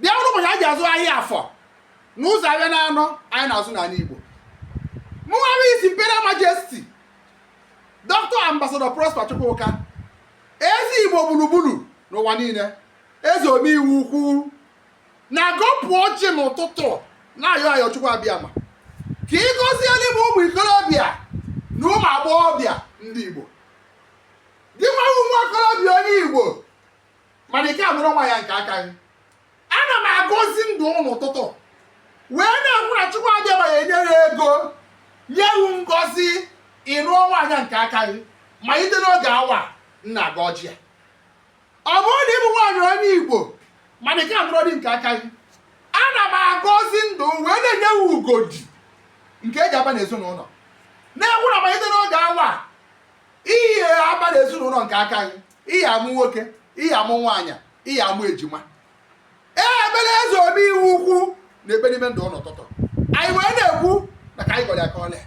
bịa bụrụ ụbọchị a ji azụ ahịa afọ n'ụzọ ahịa na anọ anyị na-azụ n'ala Igbo mụnwa His Imperial Majesty Dr. Ambassador Prosper Chukwuka eze Igbo gburugburu n'ụwa niile eze omeiwu ukwu na-agọpụ ọjị n'ụtụtụ na-ayọ ayọ Chukwu Abịama ka ị gọziere m ụmụ ikorobịa na ụmụ agbọghọbịa ndị Igbo gị nwa okorobịa onye Igbo mana ị ka anụrọ nwaanyị nke aka gị ana m agọzi ndụ n'ụtụtụ wee na-ekwu na chukwu abịama ya enyere ego nye wu ngọzi ịnụ nwaanyị nke aka gị malite n'oge awa m na-agọ ọjị a ọ bụrụ na ị bụ nwaanyị onye igbo mana ị ka anụrọ di nke aka gị ana m agọzi ndụ wee na-enye wu ugodi nke eji aba n'ezinụlọ na-ekwu na malite n'oge awa ị ya aba n'ezinụlọ nke aka gị ị ya amụ nwoke ị ya amụ nwaanyị ị ya amụ ejima ee ebere eze omeiwu ukwu na ebe n'ime ndụ n'ụtụtụ anyị wee na-ekwu na ka anyị gọrọ ya ka o lee